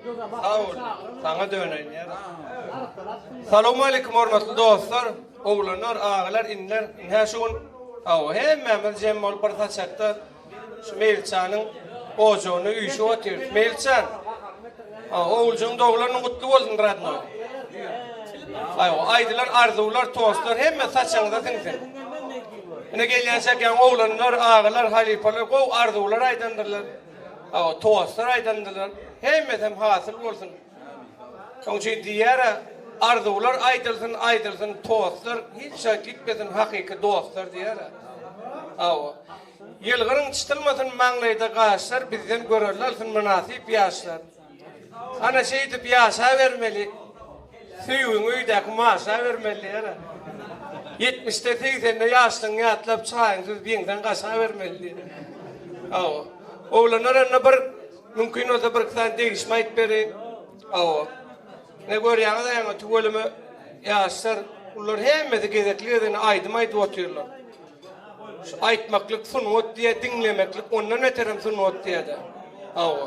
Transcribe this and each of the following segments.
Sag bol. Saňa döneýäris. Salowmaleýkim hormatly dostlar, oglanlar, agalar, iniler. Hä şu gün hawa hemmämiz jem bolup bir saçakda şu Meýilçanyň ojagyna üýşüp otyrys. Meýilçan. Ha, oguljygyň doglan güni gutly bolsun radnoý. Haý, aýdylan arzuwlar, tostlar hemme saçagyňyza siňsin. Ine gelýänçäk ýa oglanlar, agalar, halypalar gowy arzuwlar aýdandyrlar. Hawa, tostlar aýdyldylar. Hemmesem hasyl bolsun. Şoň üçin diýýär-ä, Arzuwlar aýdylsyn, aýdylsyn tostlar, hiç jaý gitmesin hakyky dostlar diýýär-ä. Hawa. Ýylgyryň çytylmasyn maňlaýda gaşlar, bizden görelde alsyn mynasyp ýaşlar. Ana şeýdip ýaşa bermeli. Söýgiň öýdäki maşa bermeli ýere. 70-de 80-de ýaşlygyňy ýatlap çaýyň süz biňden gaşa bermeli diýen. Hawa. Oglanlar onda bir mümkin bolsa bir iki sany degişme aýdyp beriň. Hawa. Ne görýäňiz aýaňa tüweleme ýaşlar ular hemmesi gezekli gezegine aýdym aýdyp otyrlar. Şu aýtmaklyk sungat diýýär, diňlemeklik ondan beterem sungat diýýär-de. Hawa.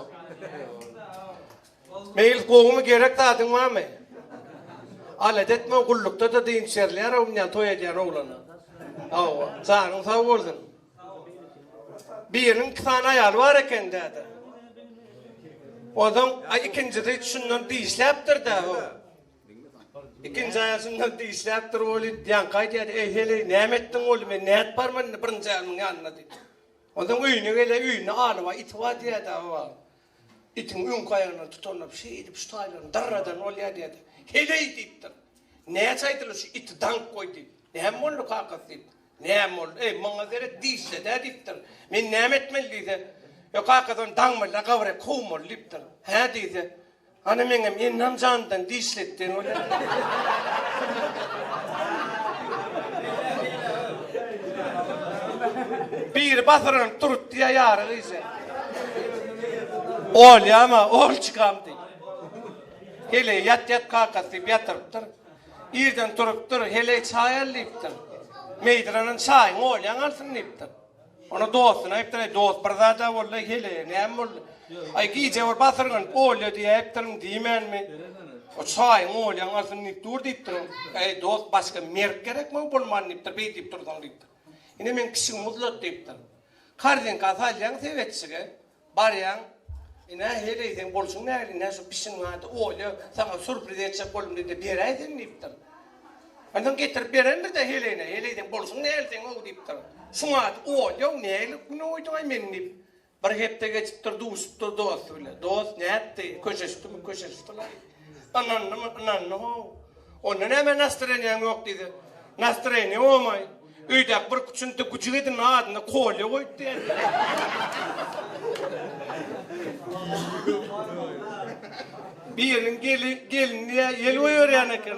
Meýlis gowumy gerek zadyň barmy? Alada etme gullukda-da dynç berilýär-ow munýan toý edýän oglana. Hawa. Janyň sag bolsun. Biriniň iki sany aýaly bar eken däde. Onsoň ikinjisi şundan dişläpdir-dä. Ikinji aýal şundan dişläp durup welin, ýaňky aýdýardy, Eý, heleý, näme etdiň oglum, men nätbarmyn indi birinji aýalymyň ýanynda diýip. Onsoň öýüne gelýär, öýünde aly bar, iti bar diýýärdi, hawa. Itiň öňki aýagyndan tutanlap, şeýdip şu taýlaryny dyrradan bolýar diýýärdi. Heleý diýipdir. Näçe aýdylar şu iti daňyp goý diýip. Näme boldy kakasy diýip. Näme boldy, eý, maňa seret, dişle-dä diýipdir. Men näme etmeli diýse. Ýok, kakasy ony daňmaly-da, gabyra kowmaly diýipdir. Hä diýse. Hany meňem ennem jandan dişletden Biri basyranyp turupdy ýa ýary gyja. Olýama, Olçykam diý. Heleý ýat ýat kakasy diýip ýatyrypdyr. Irden turupdyr, Heleý çaý al diýipdir. Meýdiranan çaýyňy Olýaň alsyn diýipdir. Onda dostuna aýypdyr, Aý, dost, bir zad-a boldy-aý, heleý, näme boldy? Aý, gije bir basyrgyn olýa diýäýipdirin, diýmänmi? O çaýyň olýan alsyn diýip dur diýipdirin. Äý, dost, başga merk gerek maňa bolman diýipdir, beý diýip dursaň diýipdir. Ine, meň kişigim uzlat diýipdir. Korzinkasy alýaň sebetçige. Barýaň, ine, heleý, seň bolşuň nähili, nä şu pişiň ady Olýa, saňa sürpriz etjek boldum diýdi-de, beräý seň diýipdir. Onsoň getirip berendir-de heleýine, heleý, seň bolşuň nähili seň-ow diýipdir. Şuň ady Olýa-ow, nähili güne guýduň-aý meni diýip. Bir hepde geçipdir, duşupdyr dosty bilen. Dost, nätdi, köşeşdimi, köşeşipdir-laý. Ynandymy? Ynandy how. Onda nämä nastroýeniýaň ýok diýdi. Nastroýeniýa bolmaý. Öýdäki bir küçüntde güjük edin adyny Kolýa goýup berdi. Biriniň gelini ýel goýberýän eken.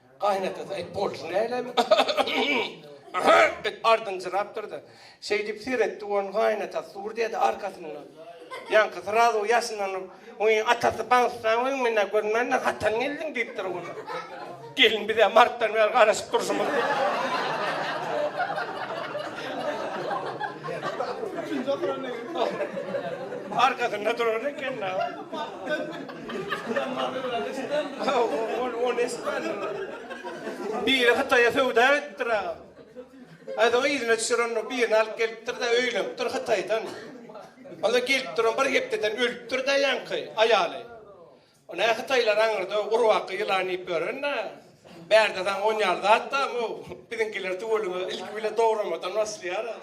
Gaýynatasy aýt bolşy nälebi? diýip ardynjyrapdyrdy. Şeýdip seretdi gon gaýynatasy dur diýdi arkasyndan. Ýaňky srazu ýaşynlanyp, Wiý, atasy baňsdan wiň menä görmändir, hatan geldiň diýipdir gon. Gelin bizä martdan bäri garaşyp durşumyz diýip. Arkasynda durar eken-dä. Biri Hytaýa söwda gitipdir agam. Aýdyň yzyna düşer onda birini alyp gelipdir-de öýlenipdir Hytaýdan. Onda gelip duran bir hepdeden ölüpdir-de ýaňky aýaly. Ony hä Hytaýlar aňyrda gurbaky ýylan iýip ýören-dä. Bärde saňa onýaly zat barmy-ow? Biziňkiler tüweleme ilki bile dogramadan başlaýar-a.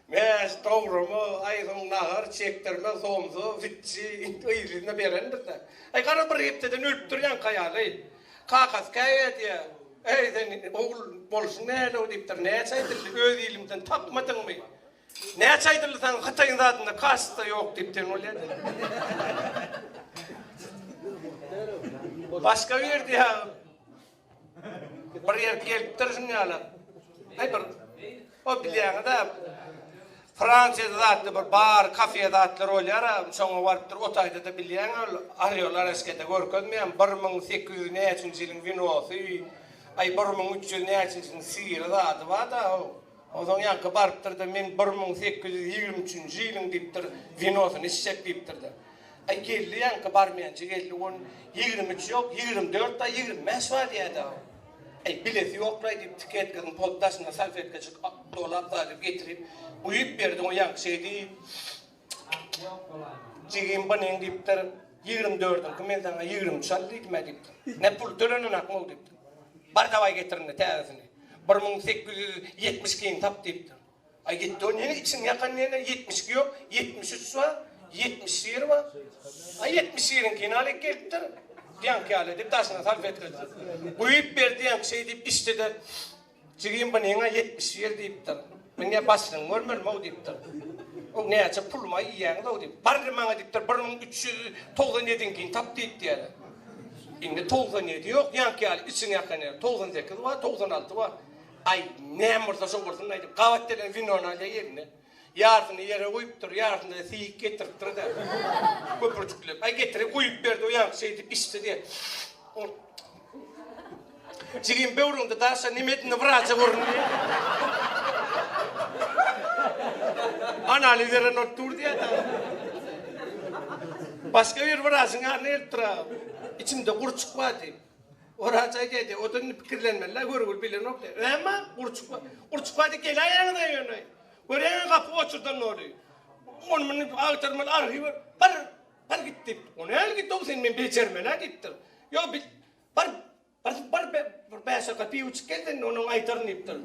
Mäz, dograma, aý, soň nahar, çekdirme, somsa, witçi, yzly-yzlyna beren bize. Aý, gara, bir hepdeden ölüpdir ýaňky aýaly. Kakasy käý edýär. Äý, sen, ogul, bolşuň nälew? diýipdir. Näçe aýdyldy, öz ilimden tapmadyňmy? Näçe aýdyldy saňa, Hytaýyň zadynda kaşt-da ýok diýip ten bolýa-da. Başga bir diýýär. Bir ýer gelipdir şuny ýaly. Aý bir o bilýäňiz-ä Fransiýada zatly bir bar, kafe zatlar bolýar-a, şoňa barypdyr. O taýda-da bilýäň ol Orýol Oraskede görkezmeýän bir müň sekiz ýüz näçinji ýylyň winosy, aý bir müň üç ýüz näçinjiniň syry zady bar-da o. Onsoň ýaňky barypdyr-da men bir müň sekiz ýüz ýigrimi üçünji ýylyň diýipdir winosyny içjek diýipdir-de. Aý geldi ýaňky barmenji geldi gun ýigrimi üç ýok ýigrimi dört da ýigrimi bäş bar diýäda aý bilesi ýokraý diýip tiketkanyň poddasyna salfetkajyk dolap zalyp getirip guýup berdi gun ýaňky şeýdi jigim banyň diýipdir ýigrimi dördüňki men saňa ýigrimi üç al diýdimä diýipdir nä pul tölenenakmy ol diýipdir bar dawaý getir indi täzesini bir müň sekiz ýüz ýetmiş ikiňi tap diýipdir. Aý gitdi o nene içiň ýakan nene ýetmiş iki ýok ýetmiş üç bar ýetmiş bir bar aý ýetmiş biriňkini al iki eltdir diýenki ýaly diýip daşyna salfetkasy guýup ber diýenki şeý diýip içdide jigim bu neňä ýetmiş bir diýipdir men näme başlygyňy görmelimau diýipdir o näçe pulumy iýýäňizau diýip barri maňa diýipdir bir müň üç ýüz togsan ýediňkini tap diýip diýeli indi togsan ýedi ýok ýaňky ýaly içiň ýakan nene togsan sekiz bar togsan alty bar Aý, näme bolsa şo bolsun aýdyp, gabat gelen winony alýar eline. Ýarsyny ýere guýupdyr, ýarsyny-da siýik getiripdir-de, köpürjikläp. Aý, getirip guýup berdi, o ýaňky şeýdip içdi-de. Jigim, böwrüňde daşa, nemedine wraja görün diýýär. Analiz eren bolup dur diýýär dagy. Başga bir wražyň ýanyna gelipdir-ä. Içimde gurçuk bar diýip. Oraç aýdaýdy, o-da indi pikirlenmeli-le, görgüli bilenok diýer. Näme? Gurçuk bar. Gurçuk bardy, geläýeňiz-ä ýöne. Görýäňiz, gapy goçurdan doly. Ony-muny agtarmaly, arhiwe bar, bar git diýip. O näl git-ow, seni men bejermen-ä diýipdir. Ýok, bar, bar, bar, bir bäşaka piwo içip gel sen, ondan aýdaryn diýipdir.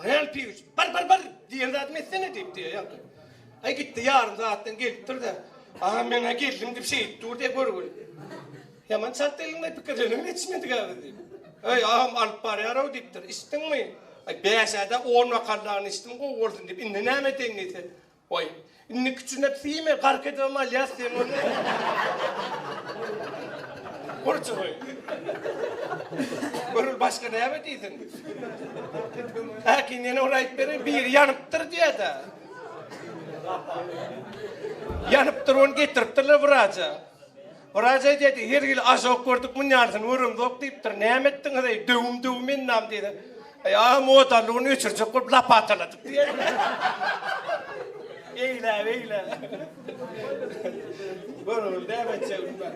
Real piýuç, bir, bir, bir diýen zadymy etsene diýip diýýär ýaňky. Aý gitdi, ýarym sagatdan gelipdir-de, Aha, men-ä geldim diýip şeýdip dur diýýär, görgüli. Ýaman çalt geldiň-le, pikirlenibem ýetişmedik-ä biz diýip. Öý, agam alyp barýar-ow diýipdir. Içdiňmi? Aý, bäş-ä-de on bokallaryny içdim, gowy bolsun diýip, indi näme edeýin diýse, Goý, indi kiçiňe siýme, gark edibem alýas sen ony. Gurçugy. Görül başga näme diýsin. Häkim ýene bir aýt beriň, biri ýanypdyr diýýä-dä. Ýanypdyr, ony getiripdirler wraja. Wraç aýdýardy, her hili ažok gördük, munýalysyny göremzok diýipdir. Näme etdiňiz, eý, döwüm döwüm ennam diýdi. Eý, aga, modalygyny öçürjek bolup lapataladyk diýýär. Eýläp, eýläp. Görogly näme etjek onda.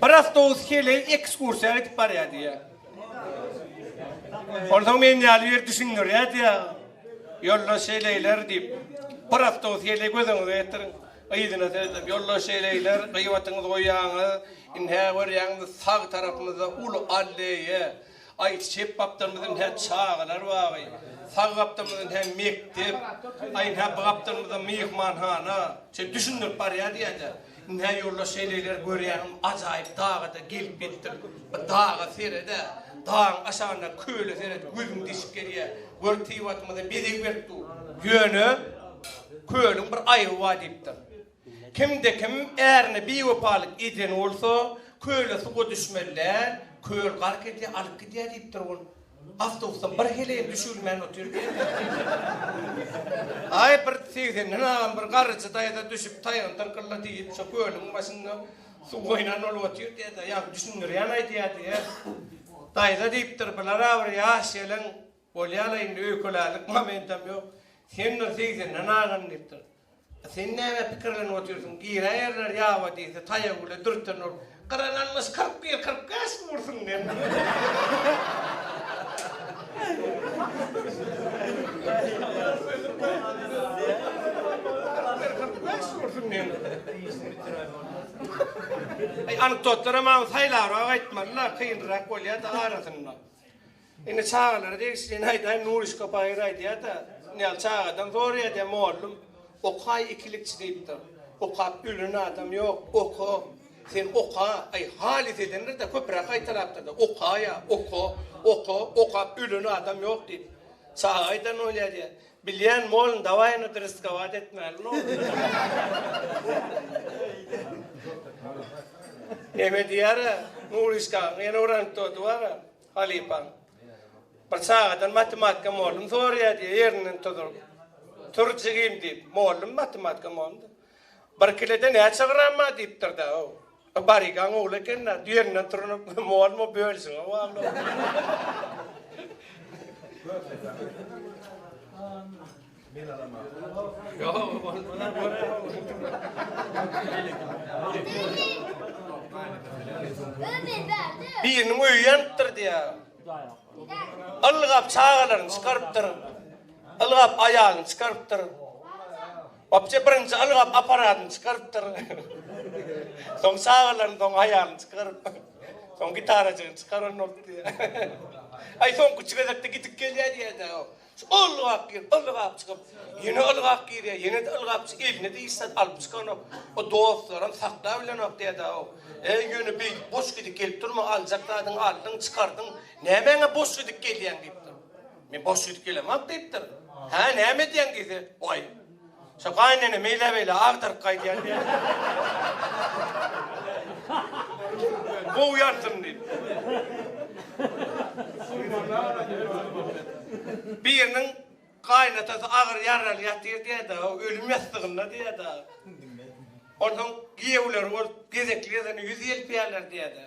Bir awtobus heleý ekskursiýa gidip barýar diýýär. Onsoň men ýaly ýer düşündirýär diýýär. Ýoldaş heleýler diýip, bir awtobus heleý gözüňize getiriň. Yzyna seredip ýoldaş eleýler, gyýbatyňyzy goýýaňyz. Ine, görýäňmi, sag tarapymyzda uly alleýa. Aý, çep gapdalymyz ine çagalar bagy. Sag gapdalymyz ine mekdep. Aý, ine bu gapdalymyzda myhmanhana. Şeýdip düşündirip barýar diýýä-de. Ine, ýoldaş eleýler, görýäňmi, ajaýyp daga-da gelip ýetdik. Bir daga seret-ä. Dagyň aşagyndaky köle seret, gözüň deşip gelýär. Göl Tebigatymyzy bezeg berip dur. Ýöne kölüň bir aýyby bar diýipdir. Kimde kim ärine biwepalyk eden bolsa, köle suwa düşmeli däl, köl gark edýär, alyp gidýär diýipdir ol. Awtobusdan bir heleýem düşülmän otyr diýipdir. Aý bir segsenden agam bir garyjy daýza düşüp taýgyny tyrkyllady diýip, şo kölüň başynda Suw goýnan ol otyr diýende ýa düşündirýän aýdýar diýýär. Daýza diýipdir, Bilara bir ýaş gelen bolýa-la indi öýkelärlik momentam ýok. Sen bir segsinden agan diýipdir. A sen näme pikirlenip otyrsyň? Giräýerler ýaba diýse, taýagy bile dürten ol. Gyran almyş kyrk bir, kyrk bäş mi ursun diýen. Eý anekdotlara maňa saýlabrak aýtmalylar kynrak bolýada arasynda. Indi çagalara degişlini aýdaýyn Nurişka Baýyr aýdýada Nýaly çagadan soraýada mollum okaý ikilikçi diýipdir. Okap ölen adam ýok oka sen oka aý halys edendirde köpüräk gaýtalapdyrda okaýa oka oka okap ölen adam ýok diýip. Çaga aýdan bolýa diýä. Bilýän bolun daway ony dyrysgawat etmälin ogly. Neme diýýära Nuryşka ýene uranyp durdy wara halypaň. Bir çagadan matematika mollum soraýa diýýä ýerinden tuzuryp. Tur jigim diýip mollum matematika molumdy. Bir kilede näçe gram bar diýipdir-dä o. O barygaň ogly eken-dä, düýenden turunyp, Molmy, bölüşiň-ä walla Biriniň öýi ýanypdyr diýýä. Ylgap çagalaryny çykarypdyr. Ylgap aýalyny çykarypdyr. Obje birinji ylgap aparadyny çykarypdyr. Soň çagalaryny soň aýalyny çykaryp. Soň gitarajygyny çykaran bolupdy. Aý soňky üç gezekde gidip gelýä diýädä o. Şu ylgap girip ylgap çykyp. Ýene ylgap girýä ýene-de ylgap çy eline-de hiç zat alyp çykanok. O dostlaram saklap bilenok diýädä o. Äý ýöne beýdip boş gidip gelip durma aljak zadyňy aldyň çykardyň nämäňe boş gidip gelýäň diýipdir. Men boş ýitip gelemok diýipdir. Hä, näme edýäň diýse, Waý, şo gaýynene meýlä-beýlä agtaryp gaýdýan diýen. Gowy ýansyn diýip. Biriniň gaýynatasy agyr ýaraly ýatyr diýýär-de, ölüm ýassygynda diýýär-de. Onsoň giýewleri bolup gezekli gezegine ýüz ýelpeýärler diýýär-de.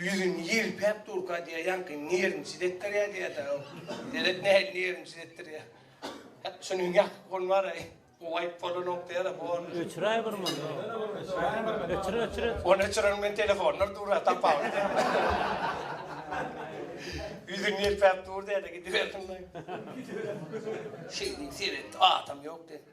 Ýüzüni ýelpäp durka diýýär, ýaňky nerwini çidetdirýär diýýär-dä ol. Derek nähili nerwini çidetdirýär. Hep şunuň ýatyp gol bar-aý. Gowaýyp bolanok diýýär-ä, bor. Öçüräý bir mundan. Öçür, öçür, öçür. Ony öçüreniň bilen telefonlar dur-a, tapawudy. Ýüzüni ýelpäp dur diýýär-de, gidibersin-laý. Şeýdip seretdi, atam ýok diýdi.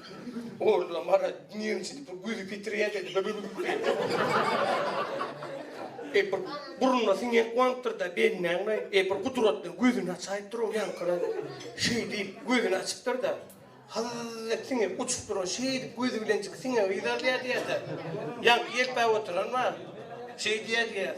Oglum ara dünýeň içi bu güzi petirýär dedi. Ep bir burnuna siňen goňupdyr-da bennäňmi? Ep bir gudratly gözüni açaýyp duran ýaňkyrap şeý diýip gözüni açypdyr-da, hallallallalap siňip uçup duran şeýdip gözi bilenjik siňen gyzy alýar diýýär-de, ýaňky ýelpäp oturan bar, şeý diýýär diýýär.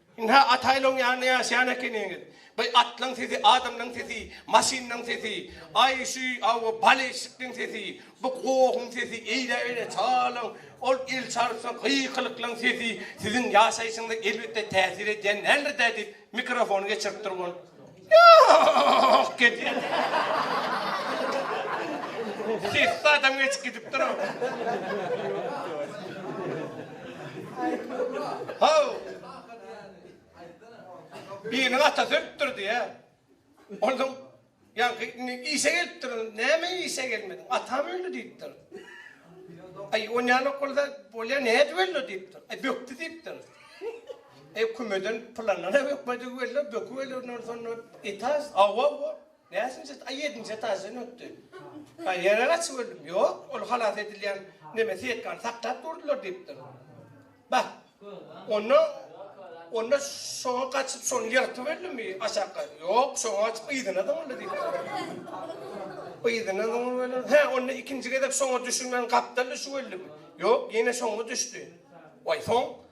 Ynha, Ataýylyň ýanynda ýaşaýan ekeniňiz. Baý, atlaryň sesi, adamlaryň sesi, maşynlaryň sesi, aý, şu aw, baleşnikleň sesi, bu gohuň sesi, eýläberi çalaň, ol el çalsa gykylyklaň sesi siziň ýaşaýşyňyza elbetde täsir edýän däldir-dä diýip, mikrofony geçiripdir ol. Ýok, gelýän. Sessiz adam geçip gidipdir o. Haw! Biriniň atasy ölüpdir diýýä. Onsoň ýaňky indi işe gelipdir. Näme işe gelmediň? Atam öldi diýipdir. Aý, o näme bolsa bolýa, nädip öldi diýipdir. Aý, bökdi diýipdir. E kümeden pylanlana bökmedigi belli, böküp ölerden soň etaž, hawa bu näçinji etaž, a ýedinji etaždan ötdi. A ýene gaçyp öldüm. Ýok, ol halas edilýän neme setkany saklap durdular diýipdir. Bah, onda onda şoňa gaçyp şony ýyrtyp öldümi aşakka? Ýok, şoňa gaçyp yzyna zyňyldy diýipdir. Yzyna zyňyp öler. Hä, onda ikinji gezek şoňa düşünmän gapdal düşüp öldümi? Ýok, ýene şoňa düşdi. Waý, soň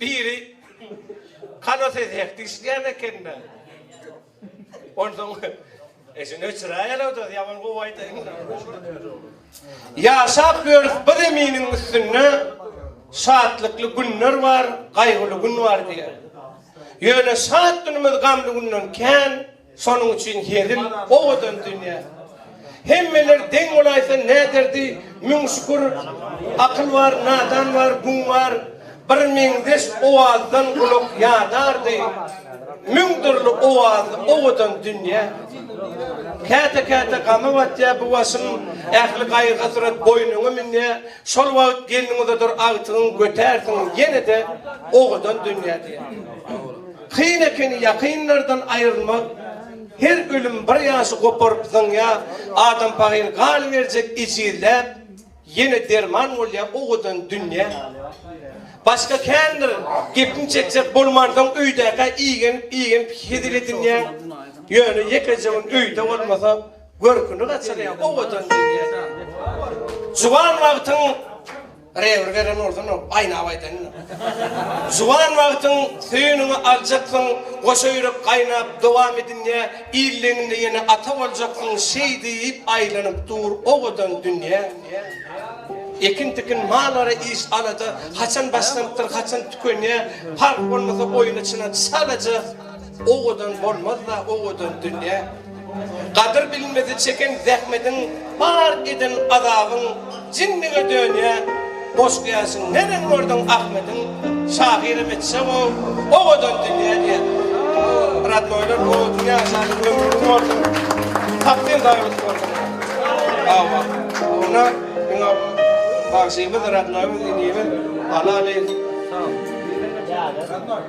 Biri, Hany siz hek dişleýän ekeni-dä. Onsoň, Eşini öçüräýeliw-dä, ýaman gowy aýdaýyň-da. Ýaşap ýörüs bu zeminiň üstünde, Şatlykly günler bar, gaýgyly gün bar diýýär. Ýöne şat günümiz gamly günden kän. Şonuň üçin hezil owadan dünýä. Hemmeler deň bolaýsa nä derdi, müň şükür, akyl bar, nadan bar, gün bar, bir meňzeş owazdan gulak ýadardy, müň dürli owazly owadan dünýä. Käte-käte gama batýa bu başym, ähli gaýgy-hasrat boýnuňa münýä, şol wagt gelniň uzadyr agtygyň götärsiň ýene-de owadan dünýä diýýär. Kyn ekeni ýakynlardan aýrylmak, her ölüm bir ýaşy goparyp zyňýar, adam pahyr galyberjek ejizläp, ýene derman bolýar owadan dünýä. Başga kändir gepiň çekjek bolmansoň öýdäkä igenip-igenip hezil edinýäň, ýöne ýekeje gün öýde bolmasa, görküni gaçyrýar owadan dünýä. Juwan wagtyň Rewir beren bolsun ol gaýnap aýdan ýaly. Juwan wagtyň söýeniňi aljaksyň goşa ýürek gaýnap dowam edinýä illeňinde ýene ata boljaksyň şeý diýip aýlanyp dur owadan dünýä ekin tikin mal ara iş alada haçan başlanypdyr haçan tükenýä parh bolmasa oýna çyna çalaja Owadan bolmaz-la owadan dünýe. Gadyr bilmezi çeken zähmediň, Bar eden azabyň jinlige dönýä. Boş gäşiň neren gördüň Ahmediň, Şahyrym etjeg-ow owadan dünýä diýen. Radnoýlar owadan ýaşaýyň ömri uzyn bolsun. Takdym daýalyk bolsun. Hawa. Ony diňe bagşymyz, radnoýymyz, inimiz, Alaly.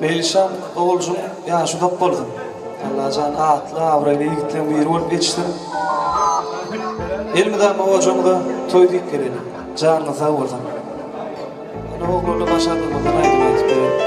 Meýlişan oguljyň ýaşy uzak bolsun. Allajan atly abraýly ýigitleriň biri bolup ýetişsin. Elmydama gojaňyza toý diýip geleli. Janyňyz sag bolsun. Ýöne oglana başardygymyzdan aýdym aýdyp bereli.